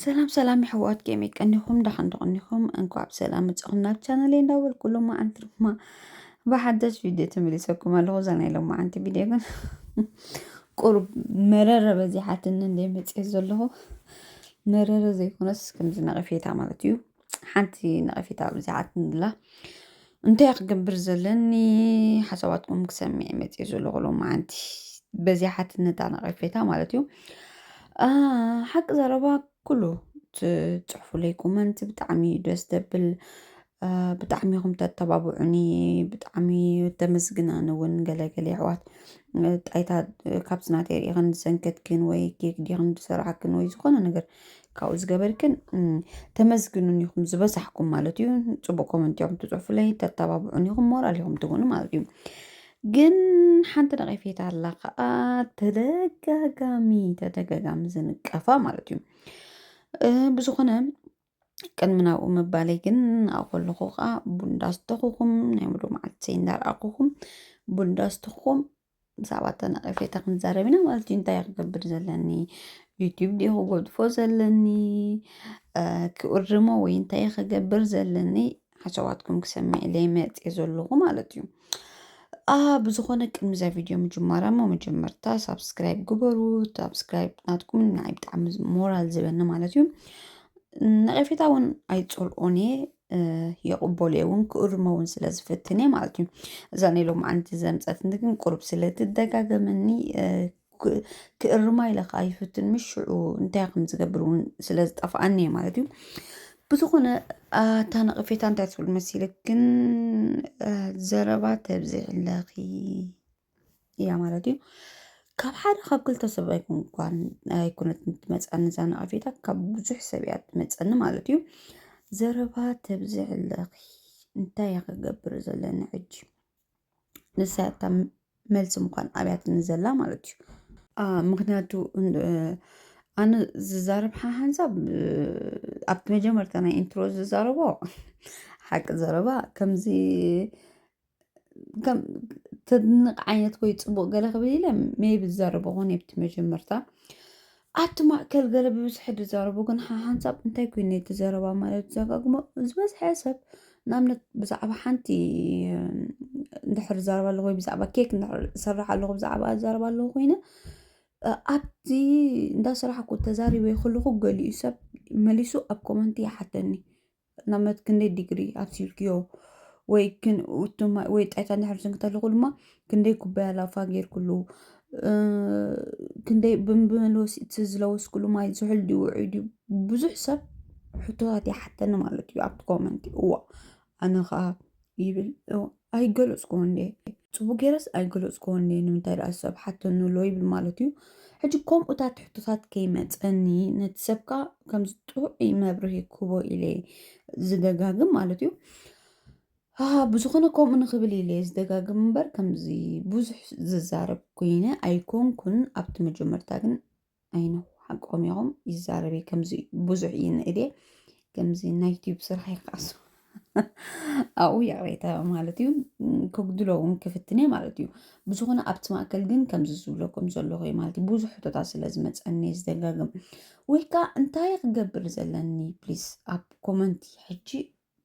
ሰላም ሰላም የሕዋት ከመይ ቀኒኹም ዳሓን ዶ ቀኒኹም እንኳዕ ብሰላም መጻኹም ናብ ቻነለይ እንዳበልኩ ሎማዓንቲ ድማ ብሓደሽ ቪድዮ ተመሊሰኩም ኣለኹ እዛ ናይ ሎማዓንቲ ቪድዮ ግን ቁሩብ መረረ በዚሓትኒ እንደ መጽኤ ዘለኹ መረረ ዘይኮነስ ከምዚ ነቐፌታ ማለት እዩ ሓንቲ ነቐፌታ ኣብዚሓትኒ ኣላ እንታይ እየ ክገብር ዘለኒ ሓሳባትኩም ክሰምዕ መፅእ ዘለኹ ሎማዓንቲ በዚ ሓትነታ ነቐፌታ ማለት እዩ ሓቂ ዘረባ ኩሉ ትፅሕፉለይ ኮመንት ብጣዕሚ እዩ ደስ ደብል ብጣዕሚ ኢኹም ተተባብዑኒ ብጣዕሚ ተመስግን ኣነ እውን ገለገለ ኣሕዋት ጣይታ ካብቲ ናተይ ርኢኽን ዝሰንከትክን ወይ ኬክ ዲኽን ዝሰራሕክን ወይ ዝኾነ ነገር ካብኡ ዝገበርክን ተመስግኑን ኢኹም ዝበዛሕኩም ማለት እዩ ፅቡቅ ኮመንት እዮም ትፅሑፍለይ ተተባብዑን ኢኹም ሞራል ኢኹም ትኾኑ ማለት እዩ ግን ሓንቲ ነቐፌታ ኣላ ከዓ ተደጋጋሚ ተደጋጋሚ ዝንቀፋ ማለት እዩ ብዝኾነ ቅድሚ ናብኡ ምባለይ ግን ናብኡ ከለኹ ከዓ ቡንዳ ዝተኹኹም ናይ ሙሉእ መዓልቲ እንዳርኣኹኹም ቡንዳ ዝተኹኹም ብዛዕባ እታ ነቐፌታ ክንዛረብ ኢና ማለት እዩ እንታይ ክገብር ዘለኒ ዩትብ ድ ክጎድፎ ዘለኒ ክእርሞ ወይ እንታይ ክገብር ዘለኒ ሓሳባትኩም ክሰምዕ ኢለይ መፅየ ዘለኹ ማለት እዩ ብዝኾነ ቅድሚዛ ቪድዮ ምጅማራ እሞ መጀመርታ ሳብስክራይብ ግበሩ ሳብስክራይብ ናትኩም ንዓይ ብጣዕሚ ሞራል ዝበኒ ማለት እዩ ነቐፌታ እውን ኣይፀልኦን እየ የቕበሉ እየ እውን ክእርሞ እውን ስለ ዝፍትን እየ ማለት እዩ እዛ ናይ ሎምዓንቲ ዘምፀትኒ ግን ቁሩብ ስለ ትደጋገመኒ እ፣ ክ- ክእርማ ኢለ ከዓ ይፍትን ምስ ሽዑ እንታይ ከም ዝገብር እውን ስለ ዝጠፍኣኒ እየ ማለት እዩ ብዝኾነ አ፣ እታ ነቐፌታ እንታይ ትብል መሲልክ ግን አ፣ ዘረባ ተብዝሕለኺ እያ ማለት እዩ ካብ ሓደ ካብ ክልተ ሰብ ኣይኮን ኳን ኣይኮነት ትመፀኒ እዛ ነቐፌታ ካብ ብዙሕ ሰብ እያ ትመፀኒ ማለት እዩ ዘረባ ተብዝሕ ኣለኺ እንታይ እያ ክገብር ዘለኒ ሕጂ ንሳ ያታ መልሲ ምኳን ኣብያትኒ ዘላ ማለት እዩ አ፣ ምክንያቱ እንዶ- እ፣ ኣነ ዝዛረብ ሓ- ሓንሳብ እ፣ ኣብቲ መጀመርታ ናይ ኢንትሮ ዝዛረቦ ሓቂ ዘረባ ከምዚ ከም ተድንቕ ዓይነት ወይ ፅቡቕ ገለ ክብል ኢለ ሜይ ቢ ዝዛረቦ ኾን ኣብቲ መጀመርታ ኣብቲ ማእከል ገለ ብብዝሒ ዝዛረቦ ግን ሓንሳብ እንታይ ኮይኑ እቲ ዘረባ ማለት ዘጋግሞ ዝበዝሐ ሰብ ንኣብነት ብዛዕባ ሓንቲ እንድሕር ዝዛረብ ኣለኹ ወይ ብዛዕባ ኬክ እንድሕር ዝሰርሕ ኣለኹ ብዛዕባ ዝዛረብ ኣለኹ ኮይነ ኣብቲ እንዳሰራሕኩ ተዛሪበ ከለኹ ገሊኡ ሰብ መሊሱ ኣብ ኮመንት ይሓተኒ። ንኣብነት ክንደይ ዲግሪ ኣብሲልክዮ ወይ ወይ ጣይታ እንድሕር ዝንክ ተለኹ ድማ ክንደይ ኩባያ ላፋ ጌርክሉ ክንደይ ብመልወሲ እቲ ዝለወስክሉ ማይ ዝሑል ድዩ ውዑይ ድዩ ብዙሕ ሰብ ሕቶታት ይሓተኒ ማለት እዩ ኣብቲ ኮመንት እዋእ ኣነ ከዓ ይብል ኣይገለፅክዎን እየ ፅቡቅ ገይረስ ኣይገለፅክዎን እየ ንምንታይ ደኣ ሰብ ሓተኒ ኣሎ ይብል ማለት እዩ ሕጂ ከምኡታት ሕቶታት ከይመፀኒ ነቲ ሰብካ ከምዚ ጥዑይ መብርሂ ክህቦ ኢለ ዝደጋግም ማለት እዩ ብዝኾነ ከምኡ ንክብል ኢለ ዝደጋግም እምበር ከምዚ ብዙሕ ዝዛረብ ኮይነ ኣይኮንኩን ኣብቲ መጀመርታ ግን ኣይ ኖው ሓቆም ኢኹም ይዛረብ እየ ከምዚ ብዙሕ እዩ ንእድየ ከምዚ ናይ ዩትዩብ ስራሕ ይቃሱ ኣብኡ ይቕሬታ ማለት እዩ ክጉድሎ እውን ክፍትን እየ ማለት እዩ ብዝኾነ ኣብቲ ማእከል ግን ከምዚ ዝብለኩም ዘለኹ እዩ ማለት እዩ ብዙሕ ሕቶታት ስለ ዝመፀኒ እየ ዝደጋግም ወይ ከዓ እንታይ ክገብር ዘለኒ ፕሊስ ኣብ ኮመንቲ ሕጂ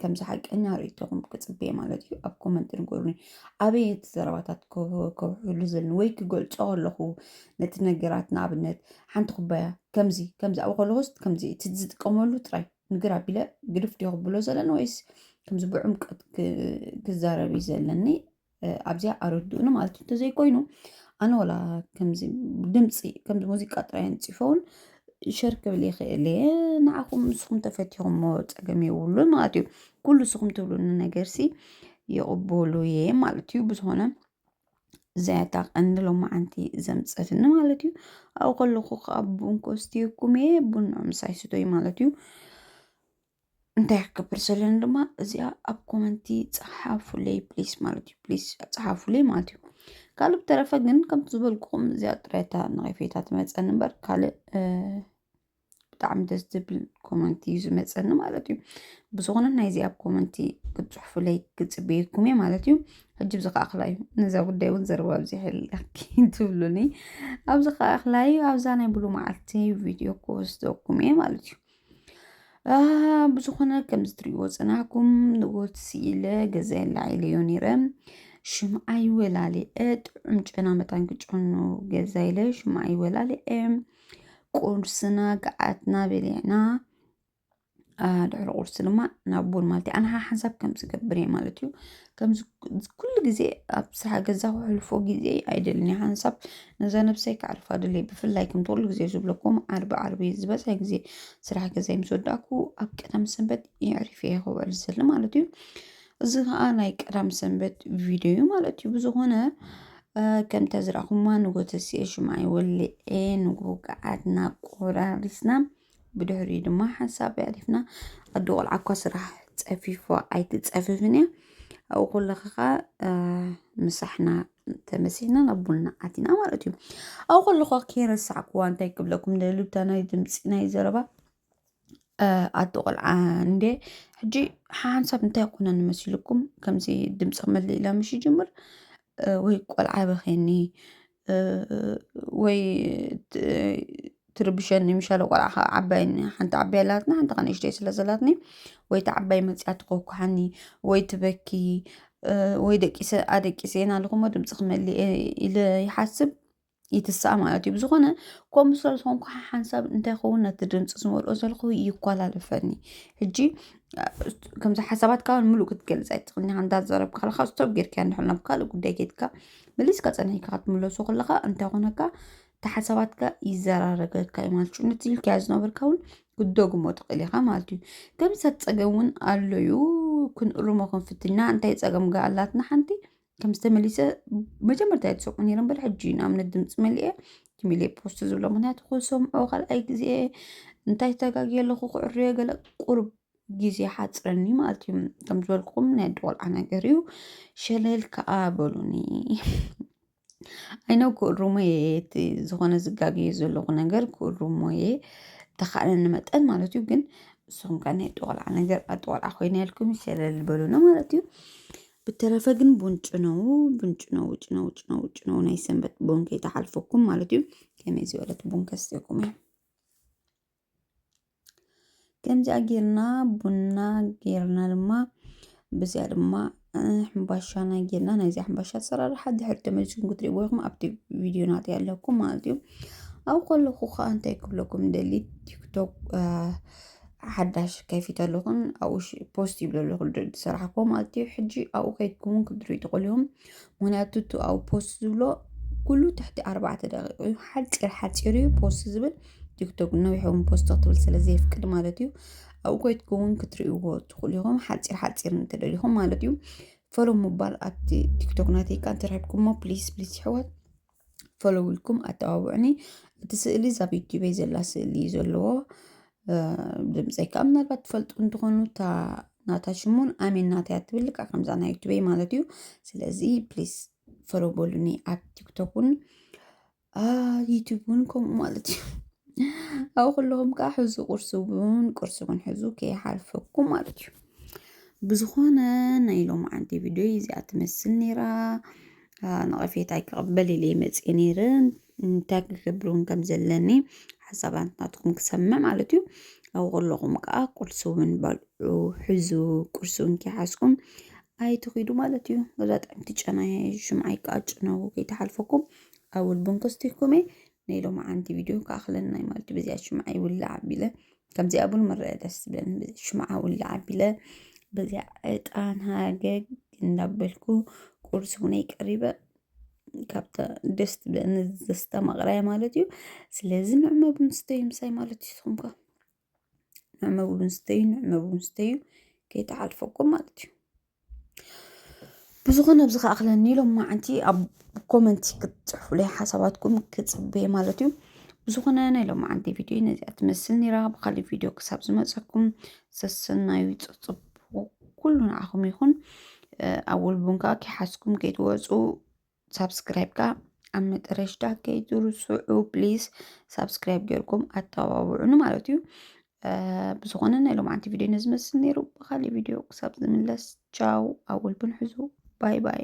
ከምዚ ሓቀኛ ርእይቶኹም ክጽበየ ማለት እዩ ኣብ ኮመንት ንገሩኒ ኣበየ እቲ ዘረባታት ከውሕሉ ዘለኒ ወይ ክገልጾ ከለኹ ነቲ ነገራት ንኣብነት ሓንቲ ኩባያ ከምዚ ከምዚ ኣብኡ ከለኹስ ከምዚ እቲ ዝጥቀመሉ ጥራይ ንግር ኣቢለ ግድፍ ዲዮ ክብሎ ዘለኒ ወይስ ከምዚ ብዕምቀት ክዛረብ እዩ ዘለኒ ኣብዚኣ ኣረድኡኒ ማለት እዩ እንተዘይኮይኑ ኣነ ወላ ከምዚ ድምፂ ከምዚ ሙዚቃ ጥራይ ንፅፈውን ሸር ክብል ይኽእል እየ ንዓኹም ንስኹም ተፈቲኹሞ ፀገም የብሉን ማለት እዩ ኩሉ ንስኹም ትብሉኒ ነገር ሲ ይቕበሉ እየ ማለት እዩ ብዝኾነ ዘያታ ቀንዲ ሎማዓንቲ ዘምፀትኒ ማለት እዩ ኣብኡ ከለኹ ከዓ ቡን ኮስትየኩም እየ ቡን ምሳይ ስቶይ ማለት እዩ እንታይ ክገብር ዘለኒ ድማ እዚኣ ኣብ ኮመንቲ ፀሓፉለይ ፕሊስ ማለት እዩ ፕሊስ ፀሓፉለይ ማለት እዩ ካልእ ብተረፈ ግን ከምቲ ዝበልኩኹም እዚኣ ጥራይታ ንቐፌታ ትመፀኒ እምበር ካልእ ብጣዕሚ ደስ ዝብል ኮመንቲ እዩ ዝመፀኒ ማለት እዩ ብዝኾነ ናይ እዚኣ ኣብ ኮመንቲ ክትፅሑፉለይ ክፅበየኩም እየ ማለት እዩ ሕጂ ብዚ ከዓ ክላይ ነዛ ጉዳይ እውን ዘረባ ኣብዚሐል ትብሉኒ ኣብዚ ከዓ ክላይ ኣብዛ ናይ ብሉ መዓልቲ ቪድዮ ክወስደኩም እየ ማለት እዩ ብዝኾነ ከምዚ ትሪእዎ ፅናሕኩም ንእወት ስኢለ ገዛይ ኣላዒለዮ ነይረ ሽምዓይ ወላሊዐ ጥዑም ጨና መታን ክጨኑ ገዛ ኢለ ሽምዓይ ወላሊዐ ቁርስና ገዓትና በሊዕና ድሕሪ ቁርሲ ድማ ናብ ቡን ማለት እዩ ኣንሓሓንሳብ ከም ዝገብር እየ ማለት እዩ ከምዚ ኩሉ ግዜ ኣብ ሰሓ ገዛ ከሕልፎ ግዜ ኣይደልን እየ ሓንሳብ ነዛ ነብሰይ ከዕርፋ ድለ ብፍላይ ከምቲ ኩሉ ግዜ ዝብለኩም ዓርቢ ዓርቢ ዝበዝሐ ግዜ ስራሕ ገዛይ ምስ ወዳእኩ ኣብ ቀዳም ሰንበት የዕሪፈ እየ ክውዕል ዝደሊ ማለት እዩ እዚ ከዓ ናይ ቀዳም ሰንበት ቪድዮ እዩ ማለት እዩ ብዝኾነ ከምታ ዝረኣኹማ ንጎተስየ ሽምዓ ወሊዐ ንጉ ገዓትና ቆራሪስና ብድሕሪኡ ድማ ሓንሳብ ኣዕሪፍና ኣዶ ቆልዓ እኳ ስራሕ ፀፊፋ ኣይትፀፍፍን እያ። ኣብኡ ከለኻ ከዓ ምሳሕና ተመሲሕና ናብ ቡና ኣቲና ማለት እዩ። ኣብኡ ከለኹ ከይረሳዕኩዋ እንታይ ክብለኩም ደልብታ ናይ ድምፂ ናይ ዘረባ ኣዶ ቆልዓ እንደ ሕጂ ሓንሳብ እንታይ ኮነን መሲልኩም ከምዚ ድምፂ ክመልእ ኢላ ምሽ ይጅምር ወይ ቆልዓ በኼኒ ወይ ትርብሸኒ ምሻለ ቆልዓ ከዓ ዓባይ ሓንቲ ዓባይ ኣላትኒ ሓንቲ ከዓ ንእሽተይ ስለ ዘላትኒ ወይ እታ ዓባይ መፂኣ ትኳኳሓኒ ወይ ትበኪ ወይ ደቂሰ ኣደቂሰ ናኣልኩ እሞ ድምፂ ክመልእ እየ ኢለ ይሓስብ ይትስኣ ማለት እዩ ብዝኾነ ከምኡ ስለ ዝኾንኩ ሓንሳብ እንታይ ይኸውን ነቲ ድምፂ ዝመልኦ ዘለኹ ይኳላለፈኒ ሕጂ ከምዚ ሓሳባትካ ምሉእ ክትገልፅ ኣይትኽእልን ኢኻ እንዳዛረብካ ከለኻ ስቶፕ ጌርካዮ እንድሕር ናብ ካልእ ጉዳይ ከይድካ መሊስካ ጸኒሕካ ክትምለሶ ከለኻ እንታይ ኮነካ እቲ ሓሳባትካ ይዘራረገካ እዩ ማለት እዩ ነቲ ኢልካዮ ዝነበርካ እውን ክትደግሞ ትኽእል ኢኻ ማለት እዩ ከምሰት ጸገም እውን ኣሎ እዩ ክንእርሞ ክንፍትና እንታይ ጸገም ጋ ኣላትና ሓንቲ ከም ዝተመሊሰ መጀመርታ እየ ዝሰምዖ ነይረ እምበር ሕጂ እዩ ንኣብነት ድምፂ መሊአ ቲሚሌ ፖስት ዝብሎ ምክንያቱ ክሰምዖ ካልኣይ ግዜ እንታይ ተጋጊየ ኣለኹ ክዕርዮ ገለ ቁርብ ግዜ ሓጽረኒ ማለት እዩ ከም ዝበልኩም ናይ ኣደ ቆልዓ ነገር እዩ ሸለል ከዓ በሉኒ ኣይነው ክእሩሞ እየ እቲ ዝኾነ ዝጋገየ ዘለኹ ነገር ክእሩሞ እየ ተኻእለኒ መጠን ማለት እዩ ግን ንስኹም ከ ናይ ኣደ ቆልዓ ነገር ኣደ ቆልዓ ኮይነ ኢልኩም ሸለል በሉኒ ማለት እዩ ብተረፈ ግን ቡንጭ ነው ቡንጭ ነው ውጭ ነው ውጭ ነው ውጭ ነው ናይ ሰንበት ቡን ከይተሓልፈኩም ማለት እዩ ከመይ ዝበለት ቡን ከስትኩም እየ ከምዚኣ ጌርና ቡና ጌርና ድማ ብዚኣ ድማ ሕምባሻና ጌርና ናይዚ ሕምባሻ ኣሰራርሓ ድሕሪ ተመልስኩም ክትሪእዎ ኢኹም ኣብቲ ቪድዮ ናት ኣለኩም ማለት እዩ ኣብ ከለኹ ከዓ እንታይ ክብለኩም ደሊ ቲክቶክ ሓዳሽ ከፊት ኣለኹን ኣብኡ ፖስት ይብለ ኣለኹ ዝሰራሕኩዎ ማለት እዩ ሕጂ ኣብኡ ከይድኩም ክትሪኡ ትኽእሉ ኢኹም ምክንያቱ እቲ ኣብኡ ፖስት ዝብሎ ኩሉ ትሕቲ ኣርባዕተ ደቂቕ እዩ ሓፂር ሓፂር እዩ ፖስት ዝብል ቲክቶክ ነዊሕ እውን ፖስት ክትብል ስለ ዘየፍቅድ ማለት እዩ ኣብኡ ኮይትኩ እውን ክትርእይዎ ትኽእሉ ኢኹም ሓፂር ሓፂር እንተደሊኹም ማለት እዩ ፈሎ ምባል ኣብቲ ቲክቶክ ናተይካ እንተረኪብኩሞ ፕሊስ ፕሊስ ይሕዋት ፈሎው ኢልኩም ኣተባብዑኒ እቲ ስእሊ እዛ ዩቲበይ ዘላ ስእሊ እዩ ዘለዎ ድምፀይ ከዓ ምናልባት ትፈልጡ እንትኾኑ እታ ናታ ሽሙን ኣሜን ናታ እያ ትብል ከዓ ከምዛ ናይ ዩቲበይ ማለት እዩ ስለዚ ፕሊስ ፈሎው በሉኒ ኣብ ቲክቶክ እውን ዩቲብ እውን ከምኡ ማለት እዩ ኣብኡ ከለኹም ከዓ ሕዙ ቁርሲ እውን ቁርሲ እውን ሕዙ ከይሓልፈኩም ማለት እዩ ብዝኾነ ናይ ሎማዓንቲ ቪድዮ እዚኣ ትመስል ነይራ ንቐፌታ ኣይክቕበል ኢለ መፅየ ነይረ እንታይ ክገብርውን ከም ዘለኒ ሓሳባት ናትኩም ክሰምዕ ማለት እዩ ኣብኡ ከለኹም ከዓ ቁርሲ እውን በልዑ ሕዙ ቁርሲ እውን ከይሓዝኩም ኣይትኺዱ ማለት እዩ ገዛ ጣዕምቲ ጨና ሽምዓ ይቃጭ ነው ከይተሓልፈኩም ኣውል ብንኩስቲኩም እየ ናይ ሎማዓንቲ ቪድዮ ክኣኽለና እዩ ማለት እዩ በዚኣ ሽምዓ ይውላዕ ኣቢለ ከምዚኣ እውን ምረኣ ደስ ዝብለኒ በዚ ሽምዓ ውላዕ ኣቢለ በዚኣ ዕጣን ሃገግ እንዳበልኩ ቁርሲ እውነይ ቀሪበ ካብታ ደስ ትብለኒ ዘስተ ማቕራያ ማለት እዩ ስለዚ ንዕመ ብምስተዩ ምሳይ ማለት እዩ ንስኹም ከ ንዕመቡ ምስተዩ ንዕመቡ ምስተዩ ከይተሓልፈኩም ማለት እዩ ብዝኾነ ኣብዚ ከኣኽለኒ ኢሎም መዓንቲ ኣብ ኮመንቲ ክትፅሕፉለይ ሓሳባትኩም ክፅበየ ማለት እዩ ብዝኾነ ናይ ሎም መዓንቲ ቪድዮ ነዚኣ ትመስል ነራ ብካሊእ ቪድዮ ክሳብ ዝመፀኩም ሰሰናዩ ፅፅቡ ኩሉ ንዓኹም ይኹን ኣብ ውልቡን ከዓ ከይሓዝኩም ከይትወፁ ሳብስክራይብ ከዓ ኣብ መጠረሽታ ከይትርስዑ ፕሊዝ ሳብስክራይብ ጌርኩም ኣተባብዑኒ ማለት እዩ ብዝኾነ ናይ ሎማዓንቲ ቪድዮ ነዚ መስል ነይሩ ብካሊእ ቪድዮ ክሳብ ዝምለስ ቻው ኣብ ወልብን ሕዙ ባይ ባይ